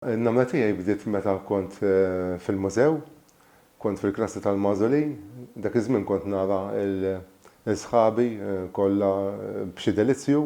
In-nagħmla tiegħi bdiet meta kont fil-mużew. Kont fil-klassi tal-magħżuli. Dak iż-żmien kont nara lil sħabi kollha b'xi delizzju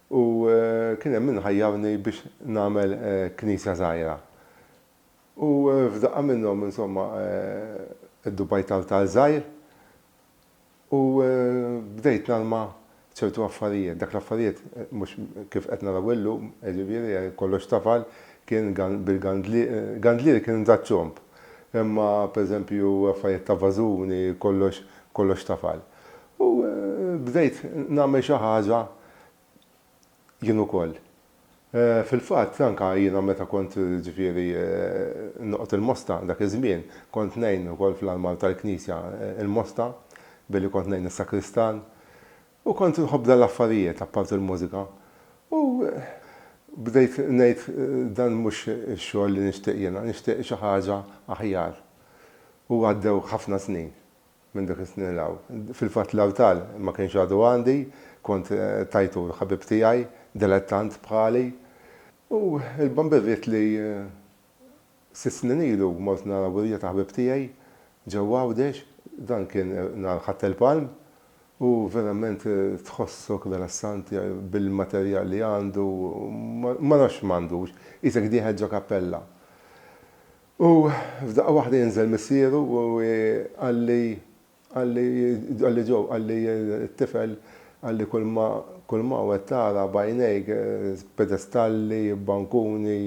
u kien hemm min ħajjarni biex nagħmel knisja żgħira. U f'daqqa minnhom, insomma, iddubajt artal żgħir. U bdejt nalma ċertu affarijiet. Dak l-affarijiet mhux kif qed naraw illum, jiġifieri kollox tafal, kien bil-gandlier, gandlieri kien da' ċomb, imma pereżempju affarijiet ta' vażuni, kollox, kollox tafal. U bdejt nagħmel xi ħaġa Jien ukoll. Fil-fatt, anke jiena meta kont, ġifieri, noqgħod il-Mosta dak iż-żmien, kont ngħin ukoll fl-armal tal-knisja il-Mosta, billi kont ngħin is-sakristan. U kont inħobb dan l-affarijiet, apparti l-mużika. U bdejt ngħid, dan mhux ix-xogħol li nixtieq jiena, nixtieq xi ħaġa aħjar. U għaddew ħafna snin. Minn dik is-snin 'l hawn. Fil-fatt l-Awtal ma kienx għadu għandi, kont tajtu l-ħabib tiegħi, dilettant bħali. U l-Bambivit li sitt snin ilu mort nara wirja ta' ħbieb tiegħi ġewwa Għawdex, dan kien nhar Ħadd il-Palm u verament tħossok relassanti bil-materjal li għandu, ma nafx x'm'għandux, qisek dieħel ġo kappella. U f'daqqa waħda jinżel missieru u jgħalli, jgħalli, jgħalli Joe, jgħalli t-tifel, jgħalli kulma, kulma hawn qed tara b'għajnejk, pedestalli, bankuni,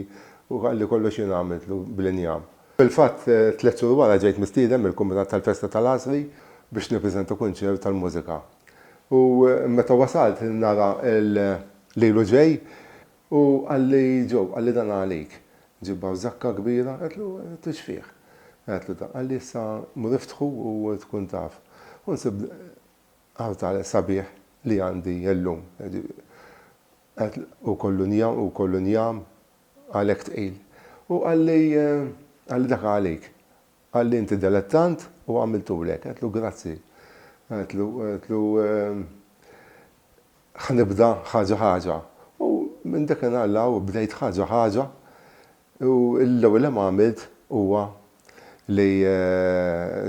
u jgħalli kollox jien għamiltlu bl-injam. Fil-fatt, tliet xhur wara ġejt mistieden mill-Kumitat tal-Festa tal-Għasri biex nippreżenta kunċert tal-mużika. U meta wasalt nara lilu ġej, U qalli, Joe, qalli dan għalik. Ġibha żakka kbira, għedtlu, għedtlu x'fih? Għedtlu dan, qalli issa mur iftħu u tkun taf. U nsib artal sabiħ li għandi illum. Għedtlu, hu kollu njam, hu kollu njam, għalhekk tqil. U qalli, qalli dak għalik. Qalli, Inti delettant u għamiltuli hekk. Għedtlu, Grazzi. Għedtlu, Ħa nibda ħaġa ħaġa. U minn dakinhar 'l hawn bdejt ħaġa ħaġa u l-ewwel li għamilt huwa li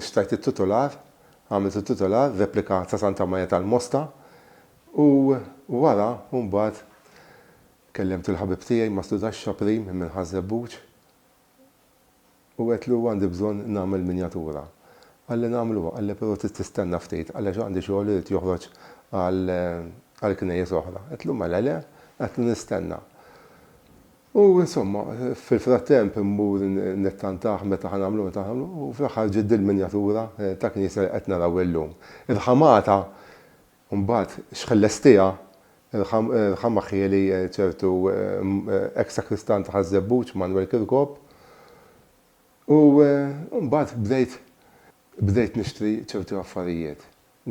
xtrajt it-titular, għamilt it-titular, replika ta' Santa Marija tal-Mosta u wara mbagħad kellimt il-ħabib tiegħi Mastru Daxxa Prim minn Ħaż-Żebbuġ. U għedtlu għandi bżonn nagħmel minjatura. Qalli nagħmluha, qalli però trid tistenna ftit għaliex għandi xogħol irid joħroġ għal għal knejjes oħra. Għedtlu mela le, għedtlu nistenna. U insomma, fil-frattemp immur nittantah meta ħa nagħmluha, meta ħa nagħmluha u fl-aħħar ġiet dil-minjatura ta' knisja li qed naraw illum. Irħamata U mbagħad x'ħellestiha l-ħama ħieli ċertu eks sakristan ta' Ħaż-Żebbuġ, Manwel Kirkop. U mbagħad bdejt bdejt nixtri ċerti affarijiet,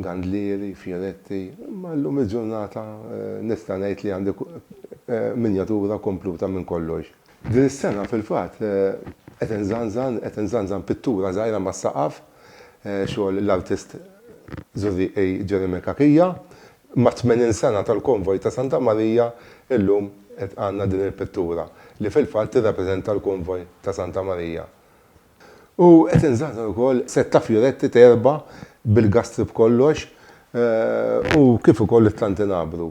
gandlieri, fjoretti, imma llum il-ġurnata nista' ngħid li għandi minjatura kompluta minn kollox. Din is-sena, fil-fatt, qed inżanżan, qed inżanżan pittura żgħira mas-saqaf, xogħol l-artist Zurrieq A. Jeremy Cachia. Mat-tmenin sena tal-Konvoj ta' Santa Marija, illum qed għandna din il-pittura, li fil-fatt tirrappreżenta l-Konvoj ta' Santa Marija. U qed inżanżan ukoll sett ta' fjuretti ta' erba' bil-gastri b'kollox, u kif ukoll it-tantinabru.